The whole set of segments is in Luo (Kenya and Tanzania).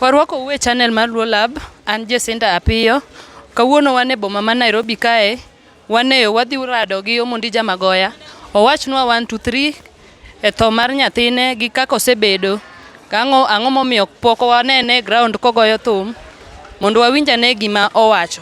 Warwako uwe channel mar Luo Lab, an Jacinta Apiyo. Kawuono wan e boma ma Nairobi kae, waneyo wadhi rado gi Omondi Jamagoya. Owachnwa one to three e tho mar nyathine gi kaka osebedo kang'o ang'o momiyo pok wanene e ground kogoyo thum mondo wawinj ane gima owacho.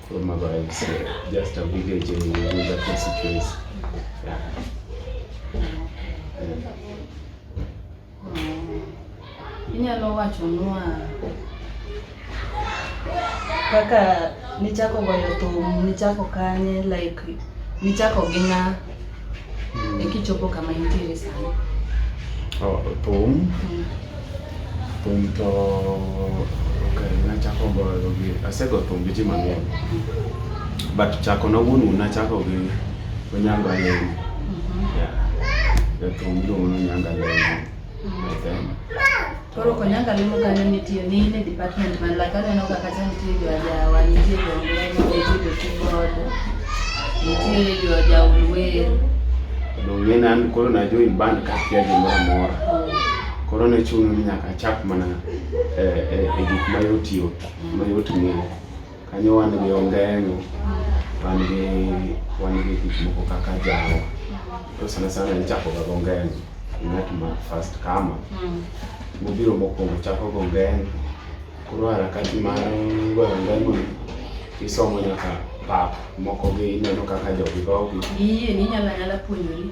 From Abayis, uh, just a village in Uganda constituency. Yeah. Inyalo wacho nwa kaka nichako goyo thum, nichako kanye, like nichako gi ng'a? Mm. Ikichopo kama injili sana. Oh, thum. Mm. Thum to okay, nachako goyo gi asego thum gi ji mang'eny. But chako na wuonu nachako gi Onyango Alego. Mm-hmm. Yeah. Jathum iluongo ni Onyango Alego. Koro konyanga limo kanyo nitie ni ne department man la kanyo no kaka chan nitie jo ajawa nitie jo ngeno nitie jo keyboard nitie jo jaulwer donge nan koro na join band ka kia gimoro amora koro ne chuno ni nyaka achak mana eh, eh, e gik mayot yot mayot ng'eyo Kanyo wan gi ongeng'o, wan gi wan gi gik moko kaka jawa. To sana sana ichako ga ongeng'o. Ng'at ma first kama. Mm. Mobiro mokwongo chako go ongeng'o. Koro harakati mar goyo ongeng'o isomo nyaka pap moko gi ineno kaka jogi gogi. Iye ni nyala nyala puonjori.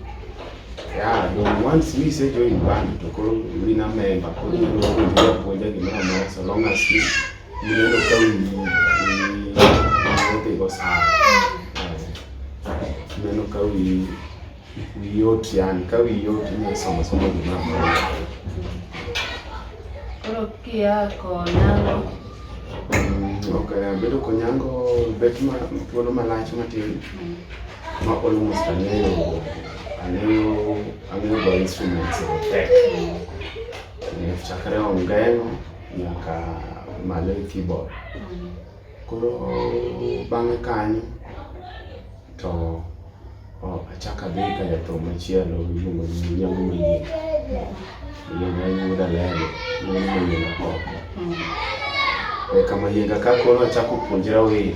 Yeah, but once we say join band to call we na member, call we know we are going to so long as we Nilienda ukawi nimeona iko sawa. Nimeona ukawi yote yani kawi yote ni somo somo ni mambo. Koro kia konango. Mm, okay, bedo konyango bet ma tuono malach matin. Mm. Ma almost angeyo angeyo angeyo go instruments of tech. Mm. Nilifikiri ongeno nyaka malo e keyboard koro bang'e kanyo to achaka dhi ka jathum machielo iluongo ni nyangu manyien iluongo ni yuda lego nyangu manyien oko eka mayienga ka koro achako puonjra wer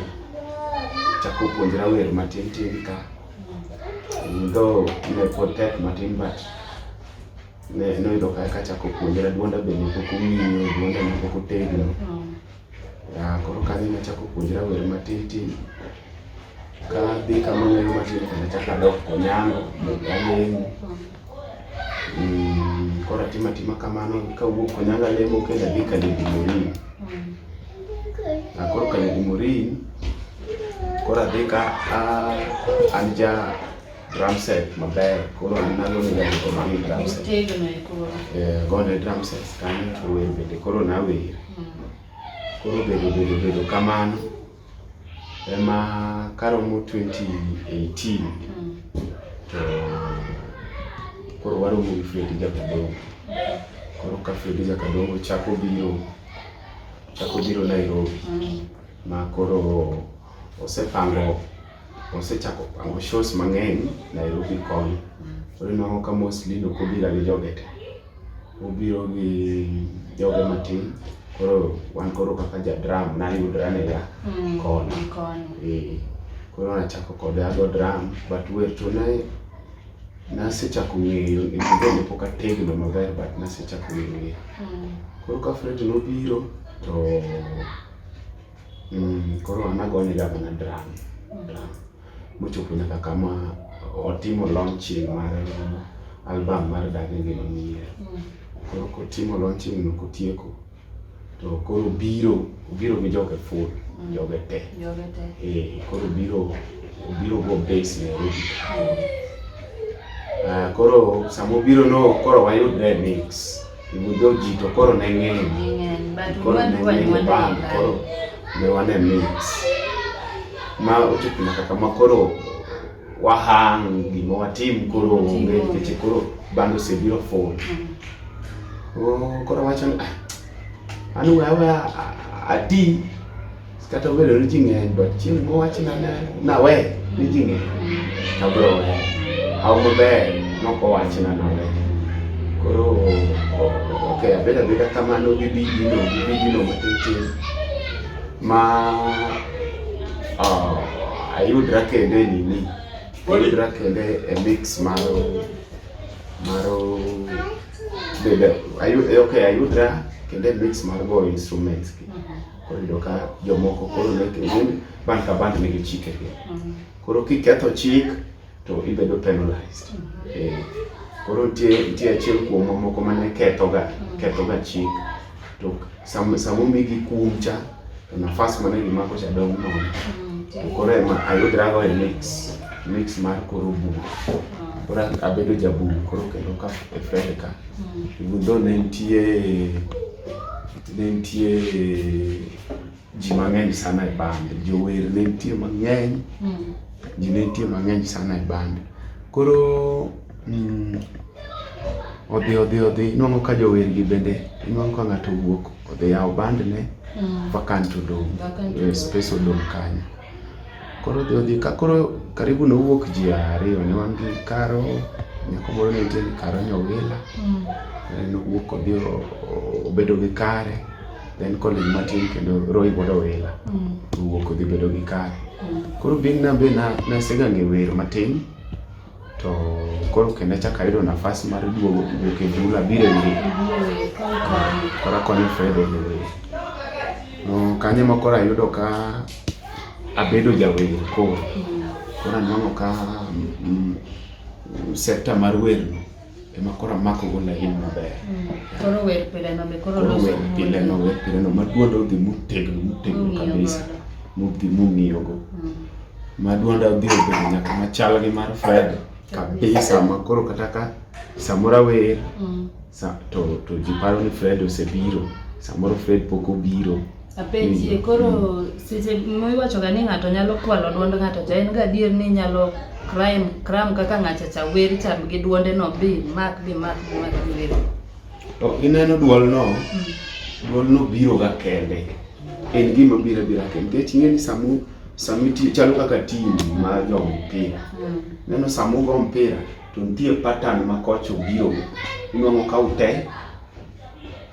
achako puonjra wer matin tin ka though ne pod tek matin but ne noyudo ka eka achako puonjra duonda bende pok ong'iyo duonda ne pok otegno ya koro kanyo nachako puonjra wer matitin ka dhi kama wer matin kendo achako adok konyango alemo Mm, koro atima tima kamano kawuok konyango alemo kendo adhi kaledi morin akoro kaledi morin koro adhi ka a- an ja drum set maber koro nagonega gik mani drum set eh, gone drum set kanyo to wer bende koro nawer hmm. koro bedo bedo bedo kamano ema karomo 2018 hmm. to koro waromo gi Fredi Jakadongo koro ka Fredi Jakadongo chako biro chako biro Nairobi hmm. ma koro osepango Osechako pango shows mang'eny Nairobi koni. Koro inwang'o ka mostly ok obira gi joge te. Obiro gi joge matin. Koro wan koro kaka ja drum nayudra ne ya Mm, koni. ni koni. Eh, Koro nachako kode ago drum but wer to ne nasechako ng'eyo e kinde ne pok ategno maber but nasechako ng'eyo. Mm. Koro ka Fred nobiro to Mm, koro an agone ga mana drum drum mochopo nyaka kama otimo launching mar album mar Dagi Ngima Manyien. Koro kotimo launching no kotieko to koro biro obiro gi joge full joge te Joge te. eh, koro biro obiro go base Nairobi. Ah, koro sama obiro no koro wayudre mix Ibudho ji to koro ne ng'eny. Koro ne ng'eny bang' koro ne wane mit. Ma ochopo nyaka kama koro wahang gima watim koro onge nikech koro bando osebiro full. Mm. Oh, koro wacho ni ah, an we awe ati Kata obedo ni ji ng'eny but chieng' mowachna na nawe ni ji ng'eny to abiro weyo. Haw maber nok owachna nawe. Koro ok abedo abeda kamano gi bidino gi bidino matin tin ma ah, ayudra kende e nini ayudra kende e mix mar mar bedo ayud- ok ayudra kende e mix mar go instruments gi. Koro yudo ka jomoko koro ne kendo band ka band nigi chike gi. Mm. Koro kiketho chik to ibedo penalized. Mm. Eh, koro nitie nitie achiel kuom mamoko mane kethoga mm. kethoga chik to sama sama omigi kum cha to nafas mane gimako cha dong' nono. To koro ema ayudrago e mix mix mar koro buk. Koro abedo jabuk koro kendo ka e Fredeka. Even though ne nitie Ne nitie ji mang'eny sana e bande, jower ne nitie mang'eny, mm. ji ne nitie mang'eny sana e bande. Koro mm, odhi odhi odhi, nwang'o ka jowergi bende, nwang'o ka ng'ato wuok odhi yawo bandne, mm. vacant odong', eh, space odong' kanyo. Koro odhi odhi ka koro karibu nowuok ji ariyo ne wan gi karo nyako moro ne nitie karo nyowila mm. nowuok odhi obedo gi kare then college matin kendo roy bodo wila mm. owuok odhi bedo gi kare mm. koro bin na be nasega ng'e wer matin to koro kendo achako ayudo nafas mar duogo wuok e bul abiro ire koro akonyo Fred e wer kanyo ema koro ayudo ka abedo jawer koro koro anwang'o ka mm, sekta mar werno ema koro amakogo lain maber mm. koro wer pileno be koro loso wer pileno wer pileno ma duonda odhi motegno motegno kabisa modhi mong'iyogo mm. ma duonda odhi obedo nyaka machal gi mar Fred kabisa ma koro kata ka samoro awer mm. to to ji paro ni Fred osebiro samoro Fred pok obiro Apenji mm. koro mm. seche miwacho ga ni ng'ato nyalo kwalo duond ng'ato cha en gadier ni nyalo crime crime kaka ng'acha cha wer cha gi duonde no bi mak bi mak bi mak bi wer. To ineno duol no mm. duol no biro ga kende en gima biro bira kende nikech ing'e ni samu samu tiyo chalo kaka tim ma jo mpira neno samu go mpira to nitie pattern ma kocho biro inwang'o ka ute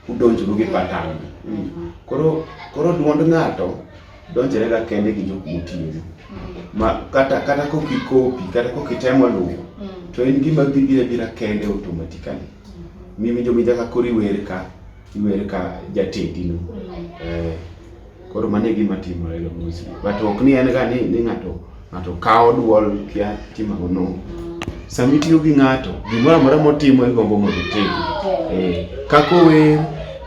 udonjru gi patan mm. koro koro duond ng'ato donjore ga kende gi jok motiyo mm. ma kata kata kok ikopi kata kok itemo luwo mm. to en gima bibira bira kende automatically mm-hmm. miwinjo minja ka koro iwer ka iwer ka jatendino eh Koro mano e gima timore ga mostly. But ok ni en ga ni ni ng'ato ng'ato kawo duol kia timago no. Sama itiyo gi ng'ato, gimoro amora motimo igombo mondo itim. Eh, kako wer,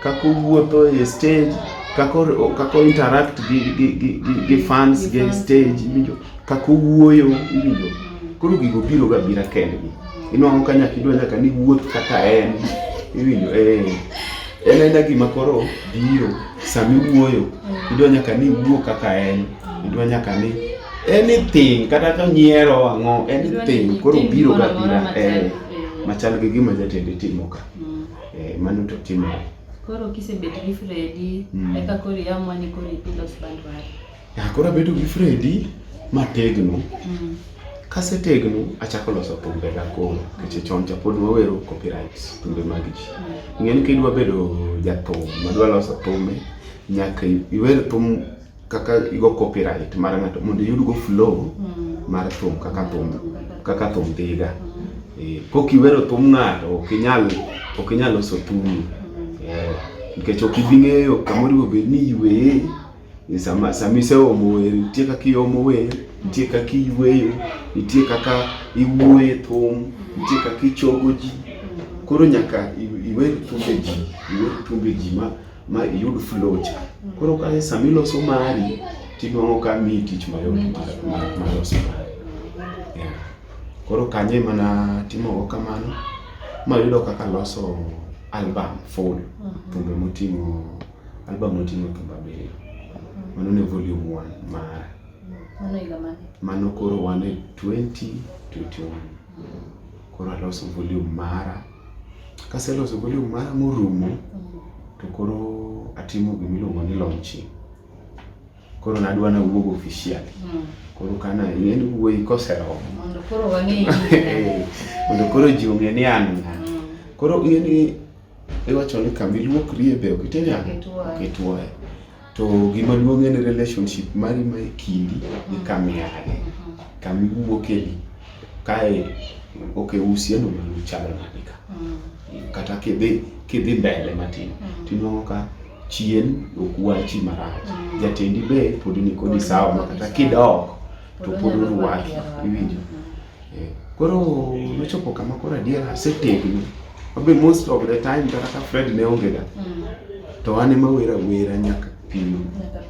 kako wuotho e stage, kako kako interact gi gi gi, gi, gi fans gi stage, iwinjo, kako wuoyo, iwinjo. Koro gigo biro ga bira kendgi. Inwang'o ka nyaka idwa nyaka ni wuoth kaka en. Iwinjo, eh. en aena gima koro biro sami wuoyo idwa nyaka ni wuo kaka en idwa nyaka ni anything kata ka nyiero ang'o anything koro biro ga bira eh, machal gi gima jatende timo ka mm. eh, mano to timore koro kisebet gi Fredi mm. eka koro iamua ni koro ipidho sband mari Koro abedo gi Fredi mategno. Mm. Kasetegno achako loso thumbe ga koro nikech chon cha pod wawero copyright thumbe mag ji. Mm. Ng'eni kidwa bedo jathum madwa loso thumbe nyaka iwer thum kaka igo copyright mar ng'ato mondo iyud go flow mm. mar thum kaka thum kaka thum dhiga. Mm. Eh, kok iwero thum ng'ato ok inyal ok inyal loso thum. Eh, nikech ok ibi ng'eyo kamoro bed ni iweye ni sama sama iseomo wer nitie kaka iomo wer nitie kaka iyweyo nitie kaka iwuoye thum nitie kaka ichogo ji koro nyaka iwer thumbe ji iwer thumbe ji ma ma iyud flow cha koro ka sama iloso mari tinwang'o ka miyi tich mayot mar loso mari koro kanye mana timogo kamano mayudo kaka loso album full mm-hmm. thumbe moting'o Album oting'o thumbe abiriyo. Mano ne volume 1 mara. Mano higa mane? Mano koro wan e 2021. Koro aloso volume mara. Kaseloso volume mara morumo, to koro atimo gimiluongo ni launching. Koro nadwa nawuog officially. Koro kana en wuoyi koseromo. Mondo koro wang'e Mondo koro ji ong'e ni an ng'a. Koro ing'e ni Iwacho ni kama iluokrie be ok itime ang'o? Ok itwoye. To gima duong' en relationship mari ma e kindi gi mm. kama iaye, mm-hmm. kama iwuoke ni. Kae ok e usiano mane uchalo nade ka. Mm. Kata kidhi kidhi mbele matin mm. tinwang'o ka chien ok wachi marach. Jatendi be pod nikodi sawa ma kata kidok to pod orwaki iwinjo. Koro nochopo kama koro adier asetegno. Wabe most of the time kata ka Fred ne onge da. Mm. To an ema wera wera nyaka pino.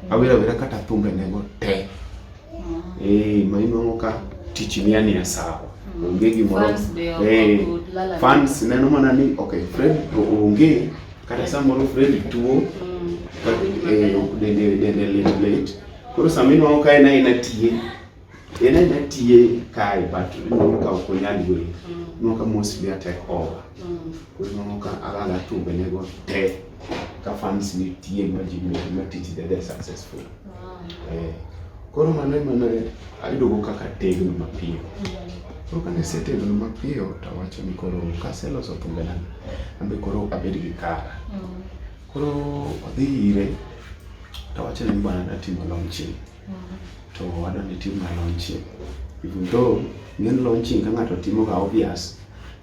Awera wera kata thumbe ne go te. Mm. Eh, ma inongo ka tich ni ani asawa. Mm. Onge gimoro. Eh, fans neno mana ni okay Fred to onge kata samoro Fred tuo. Mm. Eh, dende dende late late. Koro samino ka en aina tiye. Ena ena tiye kae but ineno ka ok onyal yueyo. Mm. Ineno ka mostly atek over. Mm. Koro ineno ka alala tumbenego te ka fans nitie ma ji medo ma tich dede successful. Wow. Eh, Koro mano ema ne ayudogo kaka tegno mapiyo. Mm. Koro kane asetegno mapiyo to awacho ni koro kaseloso thumbena an be koro abed gi kara. Mm. Koro odhi ire to awacho ni bwana natimo launching. to wadwa ni tim na launching even though ng'en launching ka ng'ato timo ga obvious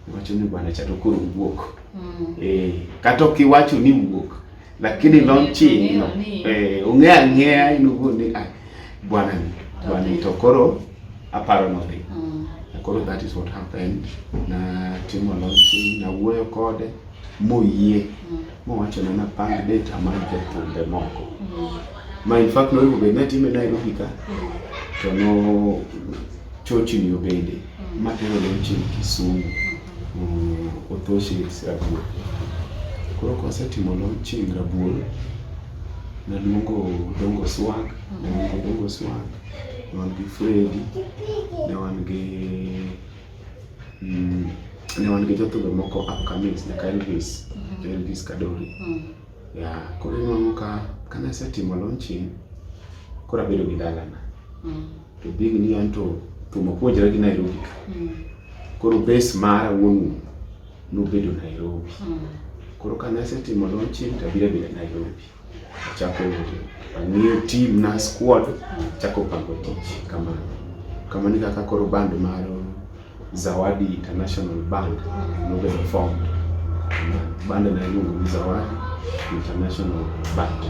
iwacho ni bwana cha to koro wuok mm. eh kata ok iwacho ni wuok lakini mm. launching no eh ong'e ang'eya in uwuon ni ah bwana ni bwana to koro aparo no dhi mm. koro that is what happened na timo launching na wuoyo kode moyie mm. mowacho na napang date amany jothumbe moko ma in fact noyudo bed natime Nairobi ka to no chochni obede matero nochim Kisumu mm, Othoshe Rabuor koro kwasetimo launching Rabuor naluongo Dongo Swag naluongo Dongo Swag ne wan gi Fredi ne wan gi mm, ne wan gi jothumbe moko upcoming nyaka Elvis mm. Elvis Kadori mm. ya koro inuang'o ka kane asetimo launching koro abedo gi dalana mm. to big ni an to thum apuonjra gi Nairobi ka mm. koro base mara wuon nobedo Nairobi mm. koro kane asetimo launching to abiro abira Nairobi Chako ang'iyo team na squad, chako pango tich kama kama ni kaka koro band mar Zawadi International Band nobedo formed. Band na iluongo ni Zawadi International Band.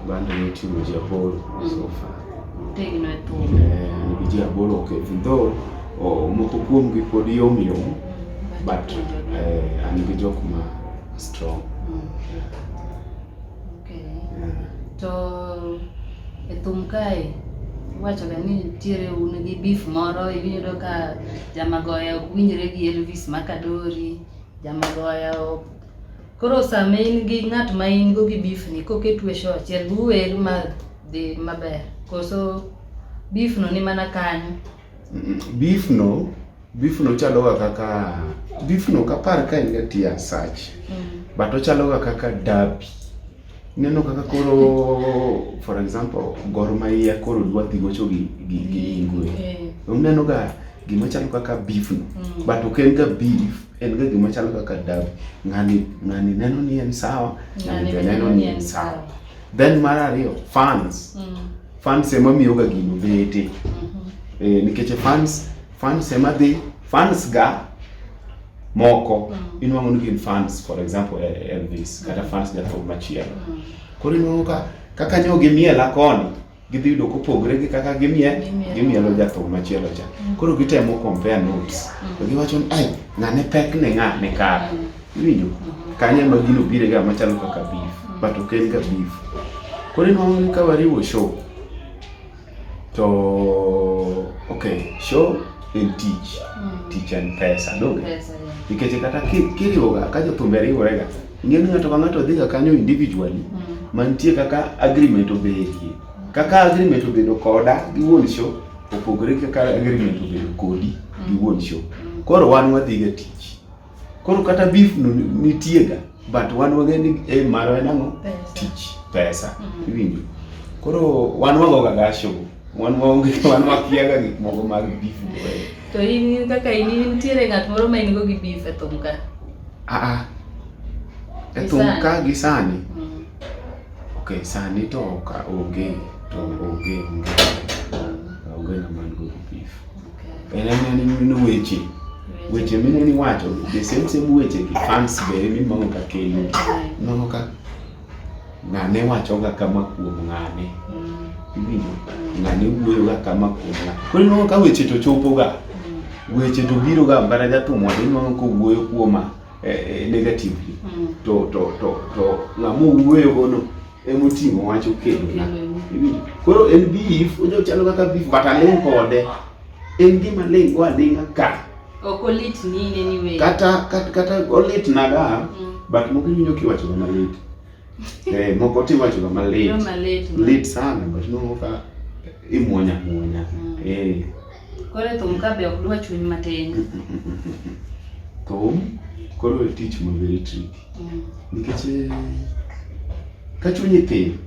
Band ni timu ji aboro so far. Tegno e thum. Eh, nigi ji aboro ok even though oh, moko kuomgi pod yom yom but eh, an gi jok ma strong mm. okay. yeah. to e thum kae iwachoga ni nitiere un gi beef moro iyudo ka jamagoya ok winjre gi Elvis Makadori jamagoya ok koro sama in gi ng'at ma in go gi beef ni koketu e show achiel uwer ma dhi maber koso beef no ni mana kanyo beef no Beef no chaloga kaka beef no kapar ka en ga tia sach. Mm. But ochaloga kaka derby. Neno kaka koro for example Gor Mahia koro dwa dhi gocho gi gi, gi Ingwe. Okay. Uneno ga gima chalo kaka beef no. Mm. But ok en ga beef, en ga gima chalo kaka derby. Ng'ani ng'ani neno ni en sawa, ng'ani be neno ni en sawa. Then mar ariyo fans. Mm. Fans ema miyoga gino bete. Mm -hmm. Eh, nikech fans Fans ema dhi, fans ga moko mm. inwang'o ni gin fans for example e, e Elvis kata fans jathum machielo. Mm. Koro inwang'o ka kaka nyo gimiela koni gidhi yudo kopogre gi kaka gimie gimielo jathum machielo cha. Mm. Koro gitemo compare notes. To giwacho ni ai ng'ane pek ne ng'ane kare. Iwinjo? Mm-hmm. Kanye ma gino bire ga machalo kaka beef, but ok en ga beef. Koro inwang'o ni ka wariwo show to okay show en tich mm. tich en pesa donge nikech kata kiriwoga ka jothumbe riworega ing'e ni ng'ato ka ng'ato dhiga kanyo individually mm. mantie kaka agreement obedie kaka agreement obedo koda gi wuon show opogore kaka agreement obedo kodi gi mm. wuon show mm. koro wan wadhiga tich Koro kata beef no nitiega but wan wang'e ni eh, marwa en ang'o? Tich, pesa. Mm-hmm. Iwinjo? Koro wan wagoga gasho, wan waonge, wan wakiaga gik moko mag beef. To in kaka in nitiere ng'at moro ma in go gi beef e thum ka? Ah ah. E thum ka gi sani? Mm. Okay, sani to ka onge, to onge, onge. Mm. Onge na man go gi beef. En en ineno weche weche mine ni wacho the same same weche gi fans be emi mango ka kelo nono ka ng'ane wacho ga kama kuom ng'ane mm. iwinjo mm. ng'ane wuoyo ga kama kuom ng'ane koro ineno ka weche to chopo ga mm. weche to biro ga mbara jathum wadi ineno ka wuoyo kuoma eh, eh, negatively to to to to ng'amo wuoyo gono emoting'o wach okelona koro en beef ojo chalo kaka beef but aling' kode en gima ling' go aling'a ka ok olit ni in any way kata kata, kata olit naga mm. but moko iwinjo kiwacho ga malit eh moko tiwacho ga malit lit sana but moko ka imuonya muonya mm. eh Koro thum ka be ok dwa chuny matin. Thum koro e tich ma very tricky. Mm. Nikech eh, ka chunyi thin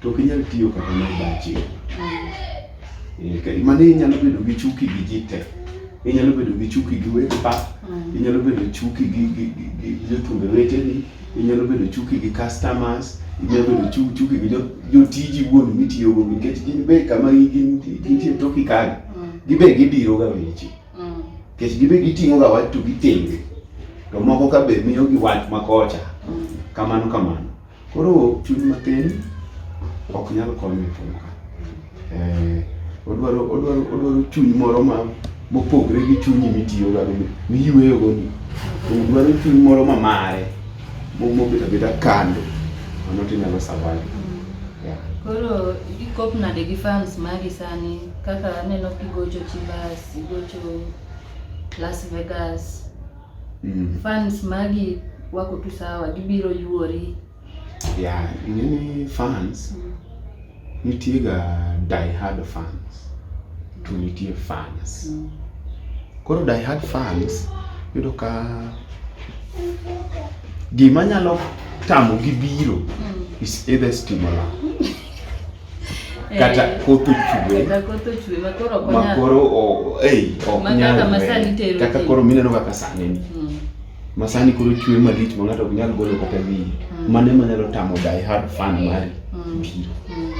to ok inyal tiyo kata mar bachi. Mm. Eh, mane inyalo bedo gi chuki gi ji te. Inyalo bedo gi chuki gi wek pa. Mm. Inyalo bedo chuki gi jothumbe weteni. inyalo bedo chuki gi customers inyalo bedo chuki gi jotiji wuon mitiyogo nikech gin be kama gintie toki kagi mm. gibe gidiro ga weche mm. nikech gibe giting'o ga wach to gitenge to moko ka be miyo gi wach makocha mm. kamano kamano koro chuny matin ok nyal konyo e Eh, odwaro odwaro odwaro chuny moro ma mopogre gi chunyi mitiyo ga go miyueyo go ni odwaro chuny moro ma mare mobet abeta kando mano tinyalo survive yeah. koro ikop nade gi fans mari sani kaka aneno kigocho chivas igocho las vegas mm. fans magi wako tu sawa gibiro yuori Yeah, nini fans mm. nitie ga die hard fans to nitie fans mm. koro die hard fans yudo ka gima nyalo tamo gi biro mm. is either stimula kata eh, koth ochwe makoro ok nyalre kaka koro mineno kaka sani ni mm. masani koro chwe malich ma ng'ato ok nyal golo kata wiyi mm. mano ema nyalo tamo die hard fan mari mm. biro mm.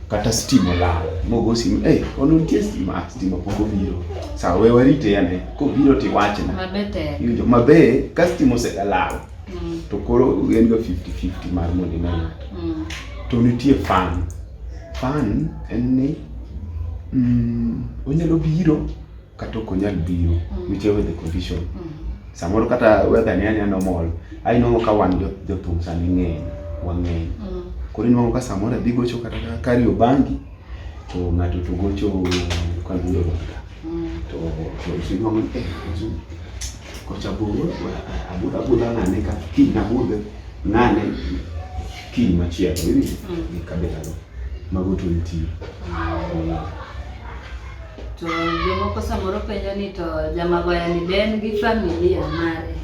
kata stima olal mogo simu eh ono nitie stima ah, stima pok obiro sawa we warite ane kobiro to iwachna iwinjo mabe ka stima oselal to koro en ga 50-50 mar mondo ine ng'ato to nitie fan fan en ni onyalo biro kata ok onyal biro mm. whichever the condition mm. samoro kata weather ni anya normal ai nongo ka wan jothum sani ng'eny wang'eny mm. koro inwango ka samoro adhi gocho kata kari obangi to ng'ato to gocho kaguro banga to inwango eh kocha buro abudha abudha ng'ane ka kiny nabudhe ng'ane kiny machielo iwinjo gi kabelano mago to nitie To jomoko samoro penjo ni to Jamagoya ni be en gi familia mare?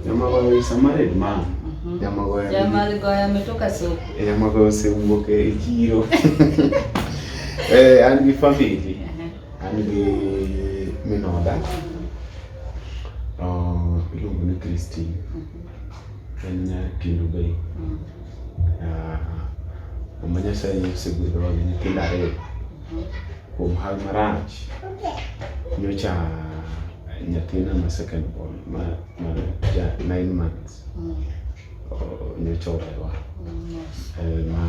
Jamagoya is a married man. Mhm. Jamagoya. Jamagoya ametoka soko. Eh, Jamagoya osewuok e chiro. Eh, an gi family. Uh-huh. An gi min oda. Oh, iluongo ni Christine. Mhm. En nyakindo bei. Mm. Mama Nyasaye osegwedhowa gi nyithindo ariyo kuom hal marach. Nyocha nyathina ma second born ma ma ja nine months nyocha owewa eh, ma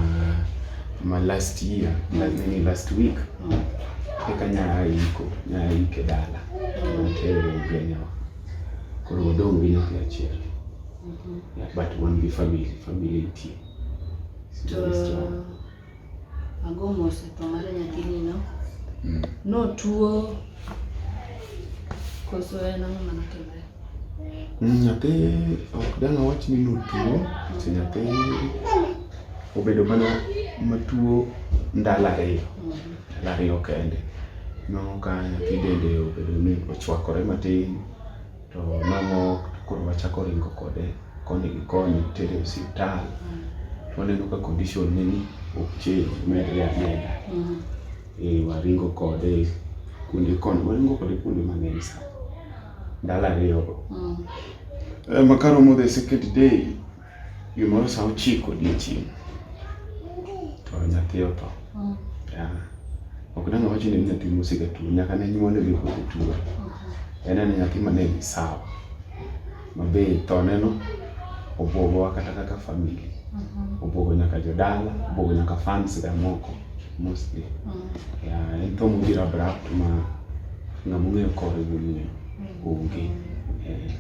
ma last year nini last week eka nyaiko nyaike dala notere ugenyawa koro wadong' gi nyathi achiel Mhm. Yeah, but wan gi family, family nitie. To ago mos e tho mar nyathini no. Mm. No tuo koso en ang'o mane otimore? Mm, nyathi ok dang' awach ni notuo, to nyathi obedo mana matuo ndalo ariyo, mhm. ndalo ariyo kende. Ineno ka nyathi dende obedo ni ochwakore matin. to nang'o koro wachako ringo kode koni gi koni tere e osiptal mm. waneno ka condition ne ni ok change medre ameda mm. e waringo kode kuonde koni waringo kode kuonde mang'eny sa ndalo ariyogo mm. eh, makaromo the second day Gimoro sa ochiko odiechieng' to nyathi otho. Mm. Yeah. Ok nang' awacho ni nyathi mosega tuo, nyaka ne nyuole gi kod tuo. Mm-hmm. En en nyathi ma ne ni sawa. Mabe thoneno obwogowa kata kaka family. Mm-hmm. Obwogo nyaka jodala, obwogo nyaka fans ga moko mostly. Mm. Yeah, en tho mobiro abrupt ma ng'ama ong'eyo kore ging'eyo. Mm. Onge. Yeah.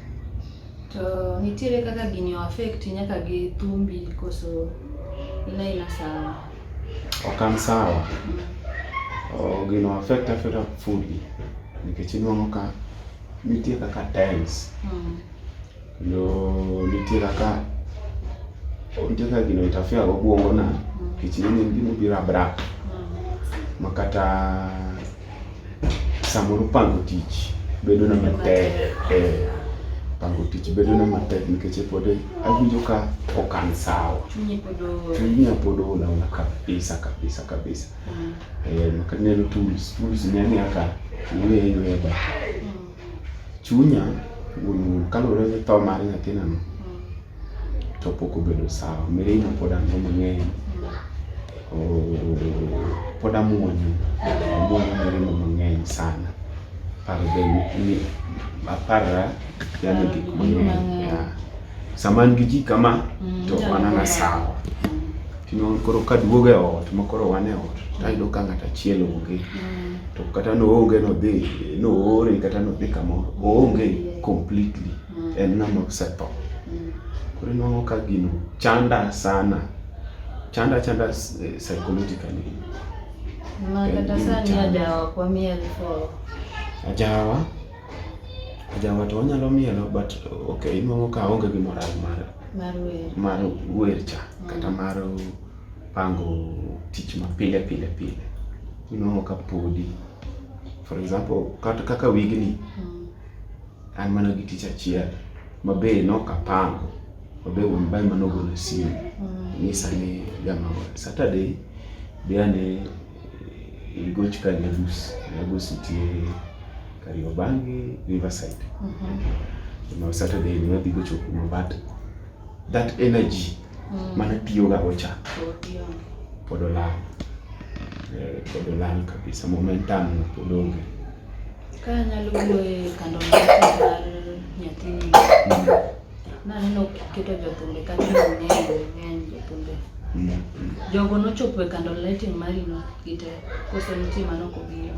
To nitiere kaka gini o affect nyaka gi thumbi koso ina ina sawa. Ok an sawa. Mm. Gino affect afeta fully nikech inuang'o ka nitie kaka times mm. kendo nitie kaka nitie kaka gino itafia go bwongo na mm. nikech nene gimobiro abrak mm. makata samoro pango tich bedo na matek eh, pango tich bedo na matek nikech e pod awinjo ka okan sawa chunya pod ola ola kabisa kabisa kabisa mm. eh, maka neno tools tools ne aka iweyo iweyo ba mm. Chunya wuon kaluwore gi tho mar nyathinano mm. to pok obedo sawa. Mirima pod an go mang'eny. Pod amuonyo, amuonyo mirima mang'eny sana. Paro be ni aparra yani gik mang'eny. Sama an gi ji kama mm, to wanana sawa. Tino koro ka duoga e ot ma koro wan e ot to ayudo ka ng'ato achiel onge. Mm. To kata noonge nodhi noore kata nodhi kamoro oonge completely mm. en ng'ama osetho. Koro inwang'o ka gino chanda sana. Chanda chanda eh, psychologically. Mama kata sani ajawa kwa miel for. Ajawa. Jawa to onyalo mielo but okay, inuang'o ka onge gi moral mar mar wer mar wer cha mm. kata mar pango tich ma pile pile pile. Inuang'o ka podi for example kata kaka wigni mm. an mana gi tich achiel ma be nok apango ma be wuon bae mano ogolo simu mm. nyisa ni jamagol Saturday be ane Igoch ka Lagos, Lagos nitie Kariobangi, Riverside. Mm -hmm. Now Saturday ni wadhi gocho kuma but that energy mm. mana tiyoga gocha pod olal eh, pod olal kabisa momentum pod onge ka nyalo wuoye kando mar nyathini mm. Naneno keto jothumbe kata ng'eny ng'eny jothumbe. Jogo nochopo e kando lighting marino gite koso nitie mano kobiro.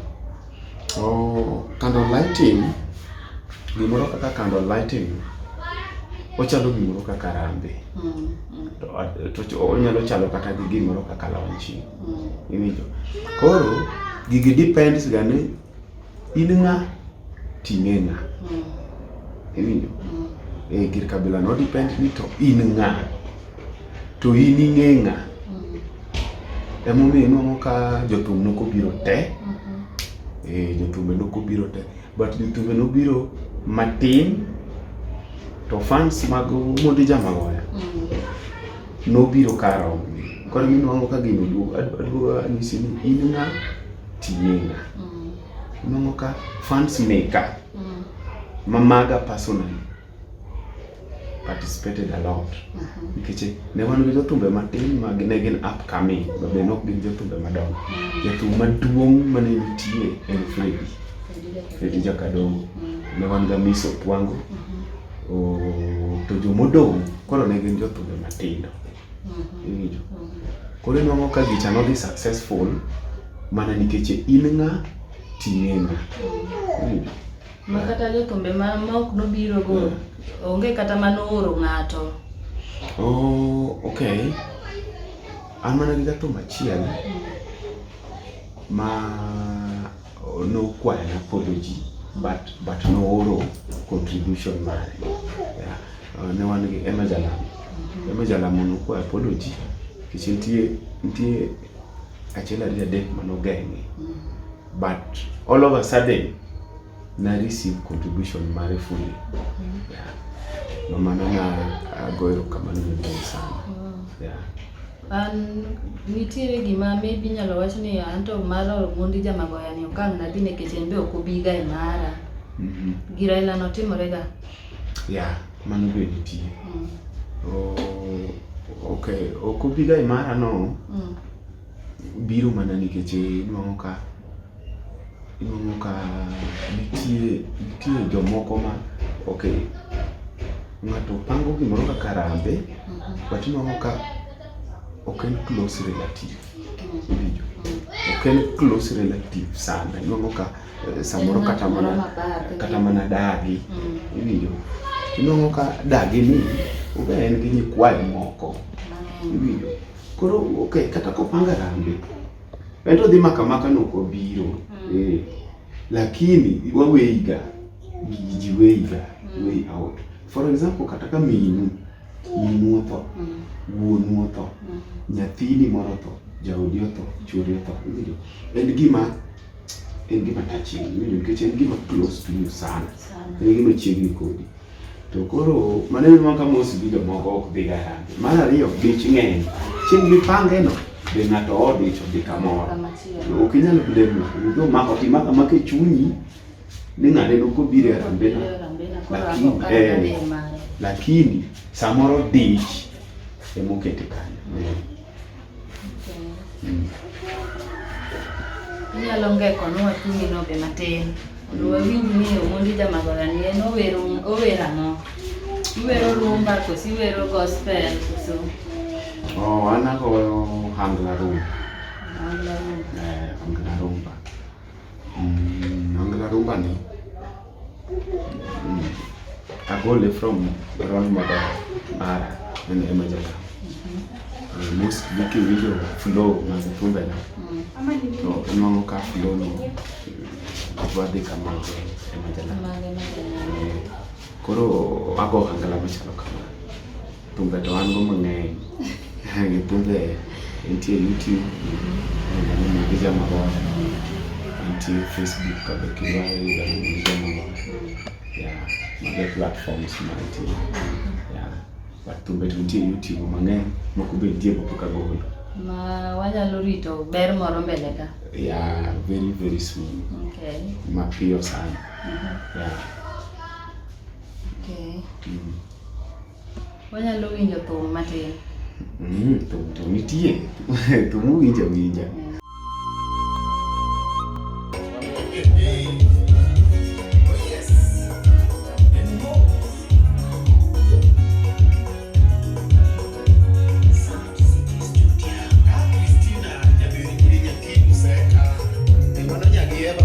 Oh, candle lighting gimoro kaka candle lighting ochalo gimoro kaka rambe mm, mm. to uh, to onyalo chalo kata gi gimoro kaka launching mm. iwinjo koro gigi depends ga ni In ng'a? Ting'e ng'a? Mm. Iwinjo? Mm. Eh, gir kabila no depend ni to in ng'a? To in ing'e ng'a? Mm. Emomiyo inwang'o ka jothum nok obiro te. Mm-hmm. Eh, jothumbe nok obiro te. But jothumbe nobiro matin to fans mag Mondi Jamagoya mm. nobiro karom. Koro inwang'o ka gino duogo. Aduogo anyisi ni in ng'a? Tininga. Mm. Nongo ka fans maker. Mm. Mamaga personally participated a lot mm-hmm. nikech mm -hmm. ne wan gi jothumbe matin ma ne gin upcoming to be nok gin jothumbe madongo mm -hmm. jathum maduong' mane nitie en Fredi Fredi Jakadongo mm -hmm. ne wan ga Miss Opwango mm -hmm. o, to jomodong' koro ne gin jothumbe matindo Koro inwang'o ka gicha nodhi successful mana nikech in ng'a ting'e ng'a. Ma kata jokombe ma ok nobiro go onge kata ma nooro ng'ato. Oh, okay. An mana gi jathum achiel ma nokwayo apology but but nooro contribution mare yeah. uh, ne wan gi Emma Jalamo Emma Jalamo nokwayo apology nikech nitie nitie achiel ariyo adek manogeng'e but all of a sudden na receive contribution mare fully yeah. Mamana na agoyo kamano maduong' sana yeah. An nitiere gima maybe inyalo wach ni anto mar Omondi jamagoya ni okang' nadhi nikech en be ok obiga e mara. Mhm. Gi Raila no timore ga. Ya, mano be nitie. Mm. Oh, okay, ok obiga e mara no Mm. biro mana nikech nwang'o ka Iyudo ka nitie nitie jomoko ma okay, ng'ato pango gimoro kaka rambe mhm. but inwang'o ka ok en close relative iwinjo ok en close relative sana inwang'o ka eh, samoro kata mana kata mana dagi mm. iwinjo inwang'o ka dagi ni obe en gi nyikwayo moko mm. iwinjo koro okay, kata kopanga rambe En to dhi maka maka no ko biro. Mm. Eh. Lakini wa weiga. Ji weiga. Mm. Way out. For example, kata ka minu. Minu otho. Mm. Wuonu otho. Mm. Nyathini moro otho. Jaodi otho. Chuori otho. Iwinjo? En gima en gima touching. Iwinjo? Nikech en gima close to you sana. Sana. En gima chiegni kodi. To koro maneno ma kama osibilo moko ok dhi garagi. Mar ariyo dich ng'eny. Chieng' mipange no be ng'ato odich odhi kamoro. Ok inyal blame ng'ato. Nijo mako ti maka maka e chunyi ni ng'ane no kobiro e rambena. Lakini eh, lakini samoro dich emokete kanyo. Inyalo ngeko nwa chunyi no be matin. Mondo wawinj ni Omondi Jamagola ni en owero owero ang'o? Iwero rumba koso iwero gospel koso Oh, an agoyo hangla rumba. angla rumba? Eh, hangla rumba. Mm, hangla rumba ni Agole from Ron Mara Mara and Emaja. Most Vicky video flow was proven. better. So no ka flow no. Wadi kama Emaja. Koro ako angala machalo kama. Thumbe to an go mang'eny. Gi thumbe nitie YouTube, nitie Mwangi Jama Boy, nitie Facebook kabe kidwa yuda Mwangi Jama Boy. Yeah, mago platforms ma nitie. Yeah. But thumbe to nitie YouTube mang'eny, moko be nitie ma pok agolo. Ma wanyalo rito ber moro mbele ka. Yeah, very very soon. Okay. Mapiyo sana. Mhm. Yeah. Okay. Mm. Wanyalo winjo thum matin. Mm, thum to nitie. Thum winjo winja. Yeah.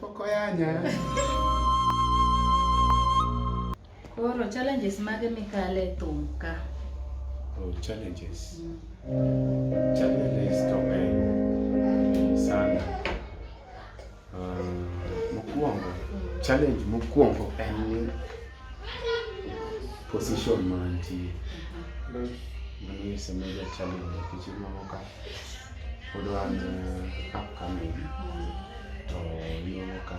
Pokoyanya. Koro challenges mage mikale e thum ka? Oh, challenges. Mm. Challenges to ng'eny sana. Uh, mokwongo, mm. challenge mokwongo en ni position mantie. Mm-hmm. Mano isemeja challenge nikech imamo kaka pod wan eh, upcoming to iwuono ka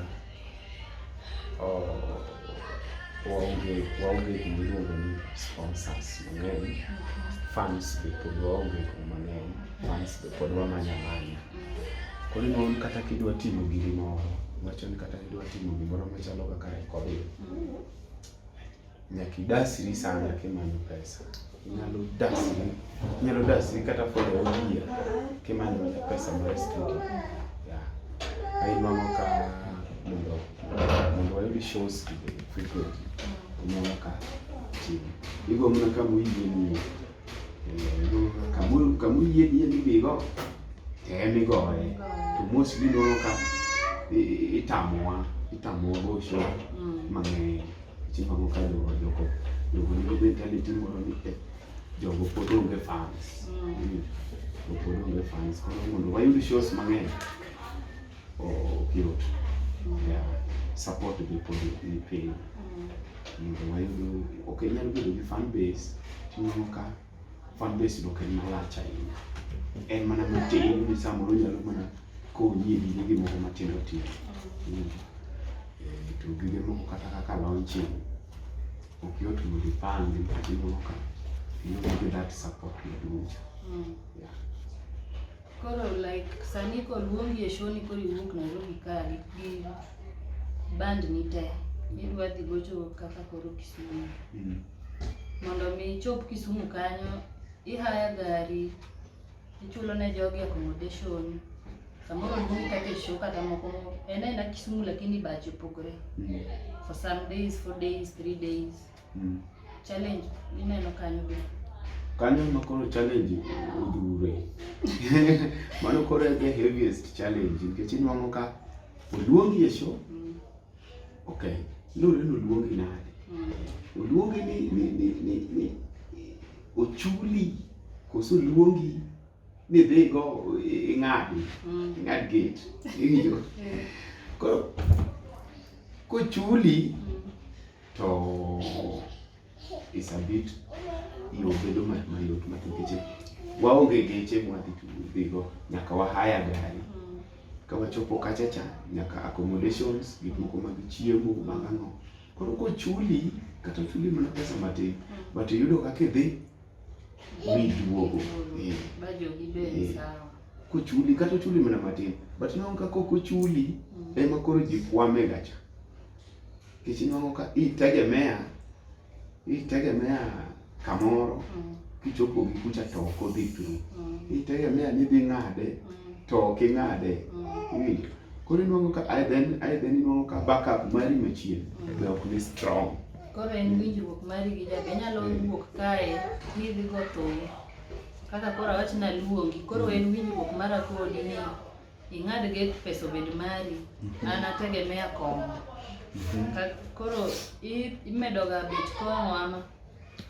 waonge waonge gima iluongo ni sponsors mang'eny fans be pod waonge gima mang'eny fans be pod wamanya manya koro inon kata kidwa timo giri moro wacho ni kata kidwa timo gimoro machalo kaka recording Nyaka idasri sana kimanyo pesa. Inyalo dasri, inyalo dasri kata for the whole year kimanyo mana pesa mar studio. Yeah. Ainwang'o ka mondo mondo wayud shows frequently. Inwang'o ka chiwo. Igo mana kama oyie ni kamuyieni yie ni bigo tem igoye to mosli nono ka itamowa itamowa bosho mm. mang'eny chimamo ka jogo jogo jogo nigi mentality moro ni eh, jogo pod onge fans mm. jogo pod onge fans koro mondo wayud shows mang'eny ok yot mm. support gi pod ni piny mondo wayud ok inyal bedo gi fan base tineno ka fan base dok en malach ahinya en mana matin ni samoro nyalo mana konyi e gige gimoko matindo tindo eh, to gige moko kata kaka launching ok yot mondo ipang gi mkati moko ka you need that support maduong' mm. yeah. Koro like sani koluongi e show ni koro iwuok Nairobi ka gi band ni te idwa dhi gocho kaka koro Kisumu. Mm. Mondo mi ichop Kisumu kanyo ihaya gari ichulo ne jogi accommodation samoro luongi kaka e show kata moko en aena Kisumu lakini bache opogore mm. for some days, four days, three days. Mm. Challenge ineno kanyo be. Kanyo ma koro challenge odure. Mano koro the heaviest challenge nikech inwang'o ka oluongi e show. Mm. Okay. Lure ni oluongi nade? Mm. Oluongi ni ni ni ni, ni ochuli koso oluongi ni dhi go ing'adi. Mm. Ing'ad gate. Ing'yo. Koro kochuli to is a bit yo bedo mayot ma nikech waonge geche mwadhi dhigo nyaka wahaya gari mm. ka wachopo kacha cha nyaka accommodations gik moko mag chiemo mag ang'o koro kochuli kata chuli mana pesa matin mm. but iyudo kaka idhi miduogo mm. eh. eh. kochuli kata ochuli mana matin but nonka kok ochuli ema koro ji kwame gacha Nikech inwang'o ka itegemea itegemea kamoro mm. kichopo gi kucha to ok odhi through. Mm. Itegemea ni idhi ng'ade mm. to ok ing'ade. Iwinjo? Koro inwang'o ka ae then ae then inwang'o ka backup mari machien be ok ni strong. Koro en winjruok mari gi jabe inyalo wuok kae midhi go thum kaka koro awach naluongi koro en winjruok mara kodi ni ing'ad get pesa obed mari mhm. an ategemea kong'o mhm. koro imedoga bet kong'o ama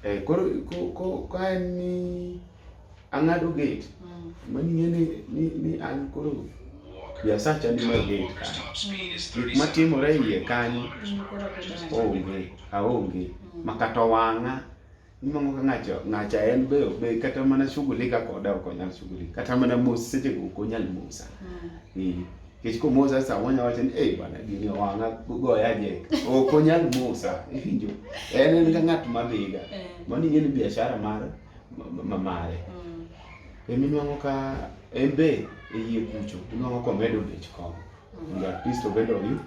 eh, koro ka en ni ang'ado get mm. mani ng'e ni an koro biasacha ni mar get ka gik matimore iye kanyo mm, onge aonge mm. makata wang'a Imango ka ng'acha ng'acha en be be kata mana shughulika koda ok onyal shughulika. Kata mana mos seche go ok onyal mosa. Mm. Eh. Kech ko mosa sa wonya wacho ni eh bana gini wanga goya je. Ok onyal mosa. Iwinjo. En en ka ng'at ma dhiga. Eh. Mani ng'e ni biashara mar ma mare. Mm. Emi nwango ka en be e yie kucho. Nwango komedo bech kong. mondo at least obed oyu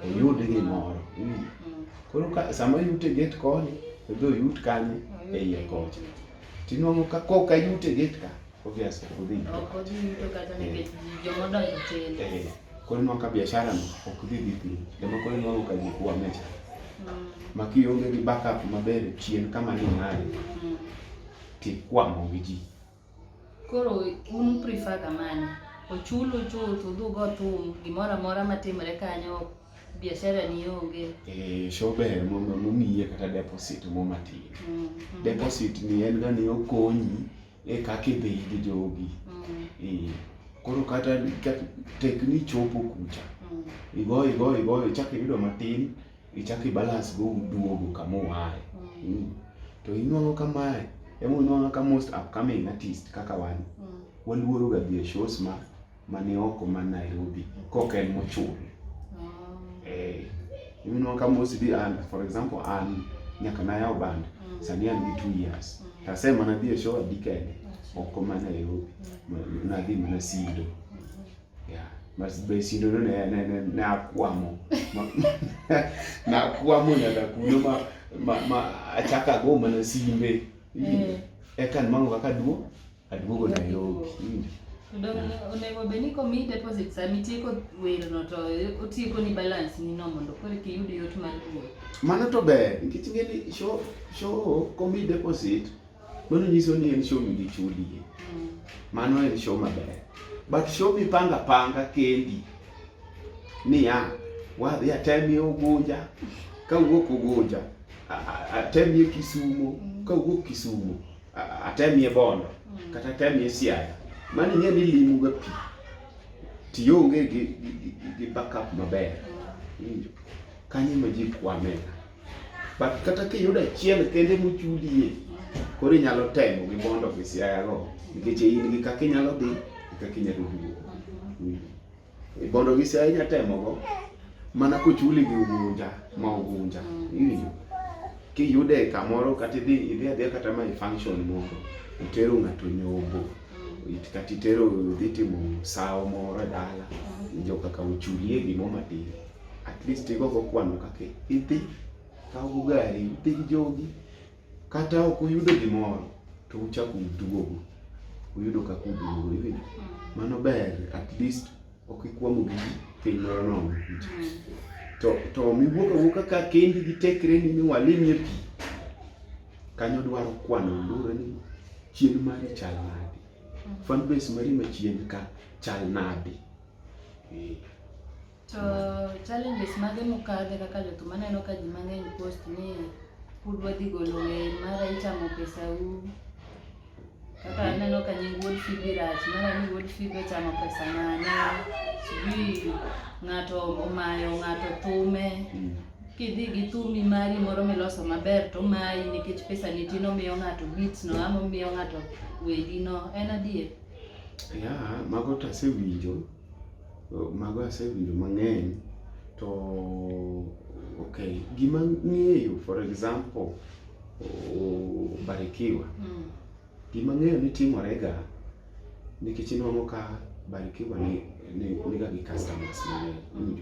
oyud gimoro mm. koro sama yute get koni odhi oyut kanye e iye kocha tinwang'o ka koka yute get ka obviously odhi korinwa ka biashara no ok dhi dhi piny ema koro inwang'o ka gik wamecha mm. ma kionge gi backup maber chien kama ni ng'aye mm. tikwamogi ji Koro un prefer ga mane? Ochulu chuth udhugo thum gimoro amora matimre kanyo biashara ni onge. Eh, show ber mondo mumiye kata deposit mo matin. Mm, mm. Deposit ni en ga ni okonyi e kaka idhi gi jogi. Mm. Eh, koro kata tek ni chopo kucha. Mm. Igoyo igoyo igoyo chak iyudo matin. ichak i balance go uduogo kama uaye mm. mm. to inwang'o kamae ema unwang'o ka most upcoming artist kaka wan mm. waluoro ga dhi e shows ma mane oko ma Nairobi kok en mochul mm. eh inwang'o ka most di and for example an nyaka na yaw band mm. sani an gi 2 years mm. to asema na dhi e show adi kende oko ma Nairobi mm. na dhi mana Sido mm-hmm. basindo no nakwamo nakwamo nyaka kuno ma ma ma achaka go mana simbe eh. eka mango kaka duo aduogo Nairobi onego bed ni komi deposit sama itieko werno to otieko ni balance ni no mondo koro eki yud yot mar duogo mano to ber nikech ing'e ni show show komi deposit Mano nyiso ni en show migi chuli. Mm. Mano en show maber. But show mi panga panga kendi. Niya, wadhi atemie Ugunja, ka wuok Ugunja, atemie Kisumo, mm. ka wuok Kisumo, atemie Bondo, mm. kata atemie Siaya. Mano ing'e ni limu ga pi. Tionge gi, gi, gi, gi backup maber. Kanyo ma ji kwamega. but kata kiyudo achiel kende mochudie koro inyalo temo gi bond of Siaya go nikech in gi kaka inyalo dhi kaka inyalo duogo e bond of Siaya inyalo temo go mana kochuli gi ugunja ma ugunja iwinjo kiyude kamoro kata idhi idhi adhiya kata ma function moro itero ng'ato nyombo kata itero dhi timo sawo moro e dala winjo kaka ochulie gimoro matin at least igo go kwano kaka idhi kaw go gari idhi gi jogi kata ok uyudo gimoro to uchako uduogo uyudo kaka uduogo iwinjo mm. mano ber at least ok ikwamo gi piny moro nono mm. to to miwuok awuoka ka kendi gi tekre ni miwalimie pi kanyo dwaro kwano lure ni chien mari chal nadi mm. fan base mari machien ka chal nadi eh. To challenges mage mukadhe kaka jothum aneno ka ji mang'eny post ni pud wadhi golo wer mara ichamo pesau kaka aneno ka nying wuod fibi rach mara ni wuod fibi ochamo pesa mane sijui ng'ato omayo ng'ato thume mm. kidhi gi thumi mari moro miloso maber to mayi nikech pesa nitin omiyo ng'ato beats no ama omiyo ng'ato wedi no en adier ya mago to asewinjo Mago asewinjo mang'eny to okay, gima ng'eyo for example Barikiwa mm. gima ng'eyo ni timorega nikech inwang'o ka Barikiwa ni niga gi customers mang'eny mm.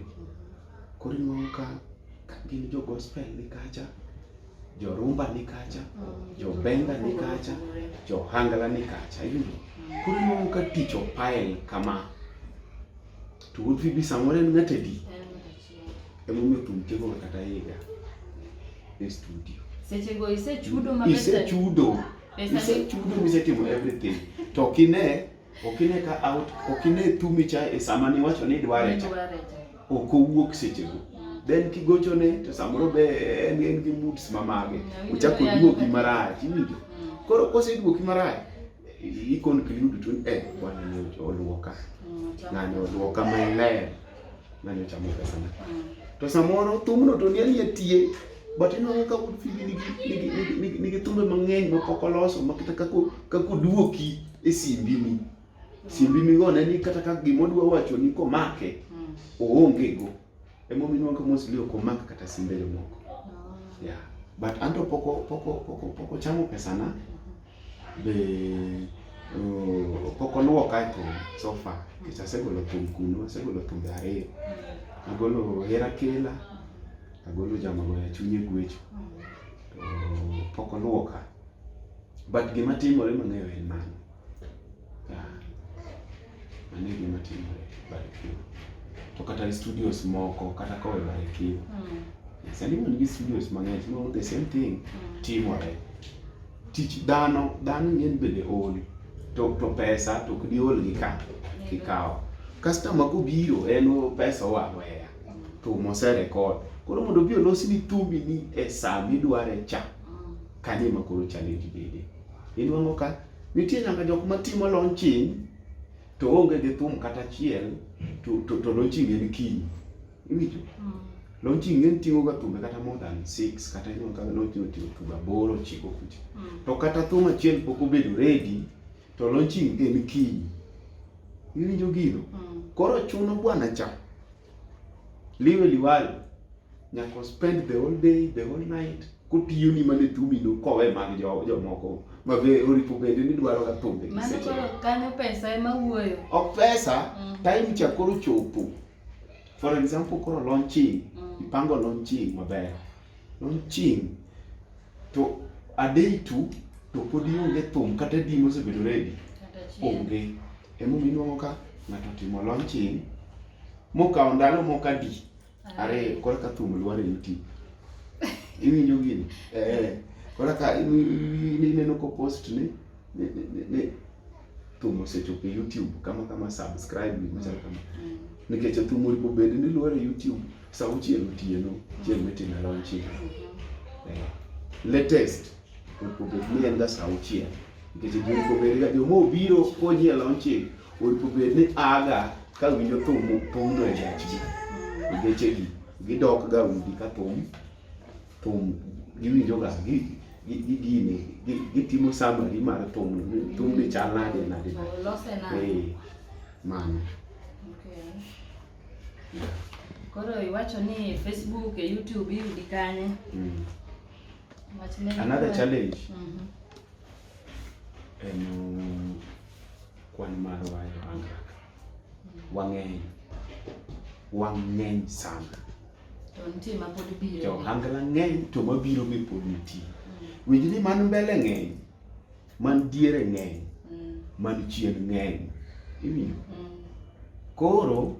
koro inwang'o ka gin jo gospel ni kacha jo rumba ni kacha mm. jo benga ni kacha jo hangala ni kacha yudo mm. koro inuang'o ka tich opael kama to wuod fibi samoro en ng'at adi emomiyo thum tieko kata higa e studio sechego isechudo isechudo isechudo misetimo everything to kine Ok ine ka out, ok ine thumi cha e sama ni wacho ni dware cha. Ok owuok seche go. Mm. Then kigocho ne to samoro be en en gi moods ma mage. Ochako mm, duoki marach, iwinjo? Mm. Koro kose duoki marach, i conclude to eh bwana ni oluoka. Ngani oluoka maler. Nani ochamo pesa na? To samoro thumno to ni aliye tie but inwang'o ka wuod Phoebe nigi nigi nigi- nigi nigi thumbe mang'eny ma pok oloso ma kata kaka kaka oduoki e simbini simbini go ne ni kata ka gima odwa wacho ni komake oonge go emomiyo inwang'o ka mosli ok omak kata simbe jomoko yeah but anto poko poko poko poko chamo pesa na Be pok oluwo kae thum so far nikech asegolo thum kuno, asegolo thumbe ariyo. Agolo hera kela, agolo jama goya chunye gwecho. To pok oluwo ka. But gima timore mang'eyo en mano. Yeah. mano e gima timore Barikiwa. To kata gi studios moko kata kowe Barikiwa. Mm. Yes, and even gi studios mang'eny, no, the same thing mm. timore. Tich dhano, dhano ng'eny bende ol. To, to pesa to ok diol gi ka kikawo. Customer kobiro en o pesa oa weya to mose record. Koro mondo obi olosni thumbi ni e saa midware cha, mm. kanyo ema koro challenge bede. Inuang'o ka Nitie nyaka jok ma timo launching to onge gi thum kata achiel to, to, to launching en kiny. Iwinjo? Mm. Launching en ting'o ga thumbe kata more than six kata inyo ka launching oting'o thumbe aboro ochiko kucha. Mm. To kata thum achiel pok obedo ready to launching en kiny. Iwinjo gino? Mm. Koro chuno bwana cha Liwe liwalo nyaka spend the whole day, the whole night kotiyo ni mane thumi no kowe mag jo jomoko ma be oripo bende ni dwaro ga thumbe gi seche. Mano kanyo pesa ema wuoyo. Ok pesa, mm. time cha koro chopo. For example koro launching, mm. ipango launching maber. Noching' to a day two to pod ionge thum kata di mosebedo ready onge emomiyo inwang'o ka ng'ato otimo launching mokawo ndalo moko adi ariyo koro ka thum lwar e youtube iwinjo gini eh, koro ka ineno ko post ni thum osechopo e YouTube kama kama subscribe gik machalo kama mm. nikech thum oripo bed ni luor e YouTube sa uchiel otieno chieng' mitime launch mm-hmm. eh, latest oripo bed ni en ga sa uchiel nikech oripo bed ga joma obiro konyi e launch oripo bed ni aga ka winjo thum opong'o e gachgi mm. gechegi gidok ga udi ka thum thum giwinjoga gi gi gini gitimo summary mar thum thum ni chal nade nade eh, mano koro iwacho ni facebook e youtube iyudi kanye mm. another challenge mm -hmm. en kwan mar wayo angaka mm. wang'eny wang'eny sana To nitie ma pod biro. To hangla ng'eny to ma biro mi pod nitie. Mm. Winj ni man mbele ng'eny, man diere ng'eny, mm. man chien ng'eny. Imiyo? Mm. Koro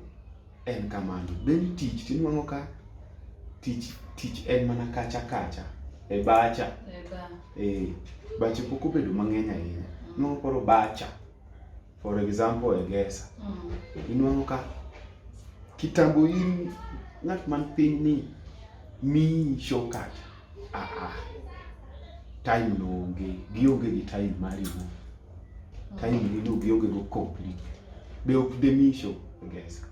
en kamano. Then tich tinwang'o ka tich tich en mana kacha kacha e bacha. E ba. Eh, bache pok obedo mang'eny ahinya. Mm. Nwang'o koro bacha. For example, Egesa. Mm. Inwang'o ka kitambo in ng'at man piny ni mi shortcut. Ah ah. Time no onge, gionge gi time mari no. Mm. Time ni no gionge go complete. Be ok de mi show Egesa.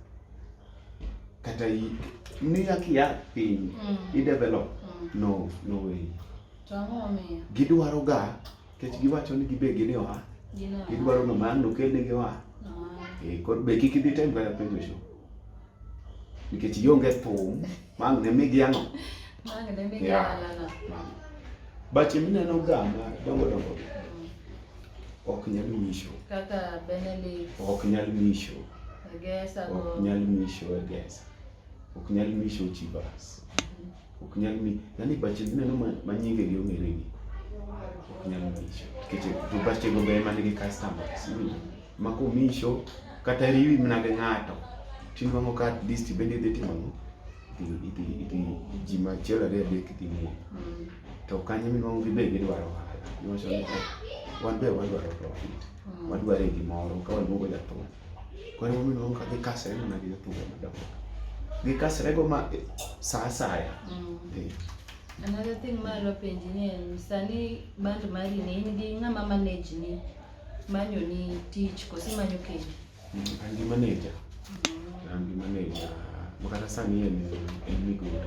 Kata i ni akia piny, mm. i develop. Mm. No, no way. Gidwaro ga Kech giwacho ni gibe gini oa. Gidwaro no man nokel ne gi oa. Eh, kod be kik idhi tem kaya penjo sho. Nikech ionge thum, mang ne migi ano. Mang ne migi ano. Bache mineno ga ma dongo dongo. Mm. Ok nyal misho. Kaka Benedict. Ok nyal misho. Egesa. Ok nyal misho egesa. Ok nyal misho chibas. ok nyal mi yani bache gineno ma nyinge gi ong'ere gi ok nyal mi nikech to bache go be ema nigi customers ma komisho kata riwi mana gi ng'ato tinwang'o ka at least bende idhi timo ang'o idhi idhi ji ma achiel ariyo adek idhi muo to kanyo minwang'o gibe gidwaro ohala niwacho ni wan be wadwaro profit wadware gimoro ka waluongo jathum Koro ema omiyo ineno ka gikasre mana gi jotugo madongo. Gikasrego ma eh, sa asaya. Mm. Eh, Another thing ma adwa penji ni en sani band mari ni in gi ng'ama manage ni manyo ni tich koso imanyo kendi? mm, An gi maneja, an gi maneja ma kata sani en en migori.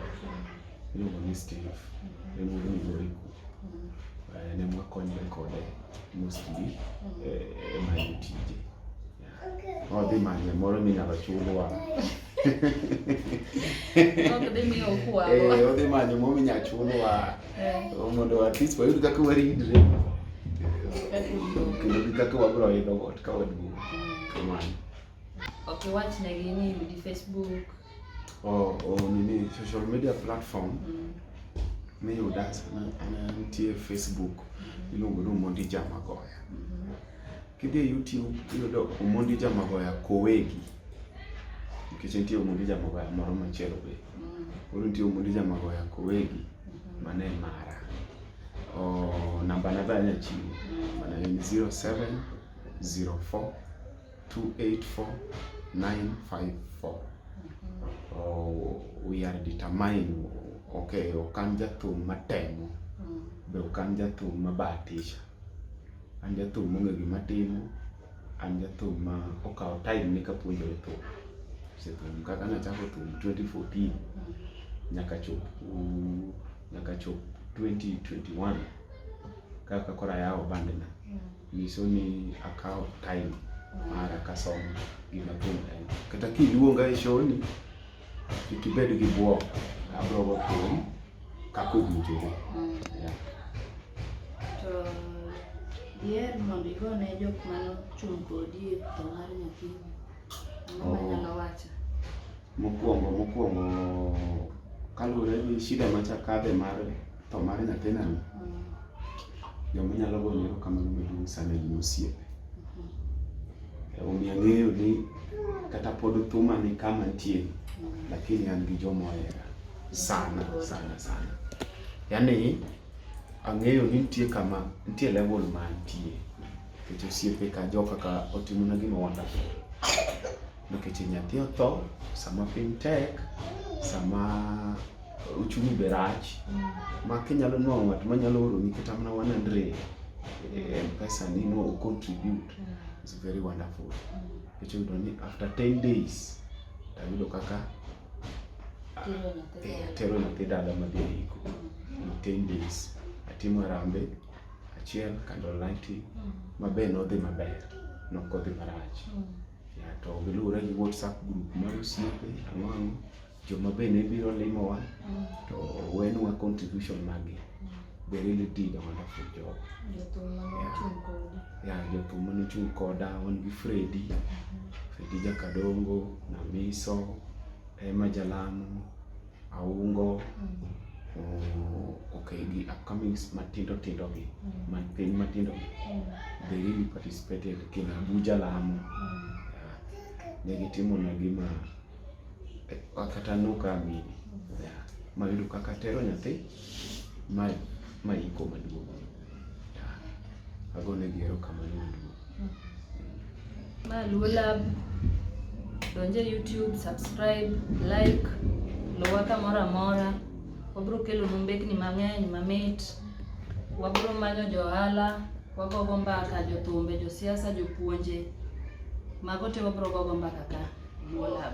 iluongo ni Steve en wuod Migoriku eh, ne mwakonyre kode mostly eh, e manyo tije odhi manye moro minyalo chulwa odhi manyo moro minyalo chulwa mondo at least wayud kaka waridre kendo gi kaka wabiro idho got ka waduong' kamano ok iwachnegi ni yudi Facebook or, or nini social media platform mm. miyuda sana nitie Facebook mm-hmm. iluongo ni Omondi Jamagoya. Mm-hmm. Kidhi e YouTube iyudo Omondi Jamagoya Kowegi nikech nitie Omondi Jamagoya moro machielo be. Mm. Koro nitie Omondi Jamagoya Kowegi mm-hmm. mane e mara. Oh, namba nadhi anyachiwo mana en 0704 284954 oh, we are determined okay ok an jathum matemo mm. be ok an jathum mabatisha an jathum mong'e gima timo an jathum ma okawo time ni kapuonjore thum sethum kaka nachako thum 2014 mm. nyaka chop nyaka chop 2021 kaka koro ayawo bandena mm. nyiso ni akawo time mara kasomo gima thum en. Kata kiluonga e shoni, kik ibed gi bwok, abrogo thum kaka owinjore. Mm. Yeah. To diher mondo igone jok mane ochung' kodi e tho mar nyathini, ang'o oh. manyalo wacho? Mokwongo mokwongo kaluwore gi shida machakadhe mar tho mar nyathinani joma nyalo goyo erokamano maduong' sani gin osiepe omiyo ang'eyo ni kata pod thuma ni kama nitie lakini an gi joma ohera sana sana sana yaani ang'eyo ni nitie kama nitie level ma nitie nikech osiepe ka jo kaka otimona gima wonderful nikech nyathi otho sama piny tek sama uchumi be rach ma kinyalo nwang'o ng'at manyalo oroni kata mana 100 eh, mpesa ni no contribute is very wonderful nikech oyudo ni after 10 days tayudo kaka eh, atero nyathi dala madhi e iko in 10 days atimo arambe achiel candle lighting mabe nodhi maber nokodhi marach to giluwore gi WhatsApp group mar osiepe ang'o ang'o joma bende biro limowa mm. to wenwa contribution magi mm. they really did a wonderful job yeah jothum mane ochung' koda wan gi Fredi mm-hmm. Fredi Jakadongo Namiso Emma Jalamo aungo okay gi upcomings matindo tindo gi man piny matindo gi they really participated kina Abuja Lamu ne gitimo na gima kata noka amini mayudo kaka tero nyathi Ma ma iko maduong'. Agone gi erokamano maduong'. Ma Luo Lab, donj e YouTube, subscribe, like, luwa kamoro amora. Wabiro kelonu mbekni mang'eny mamit. Wabiro manyo jo ohala, wagogo mbaka, jothumbe, josiasa, jopuonje. Mago te wabiro gogo mbaka ka Luo Lab.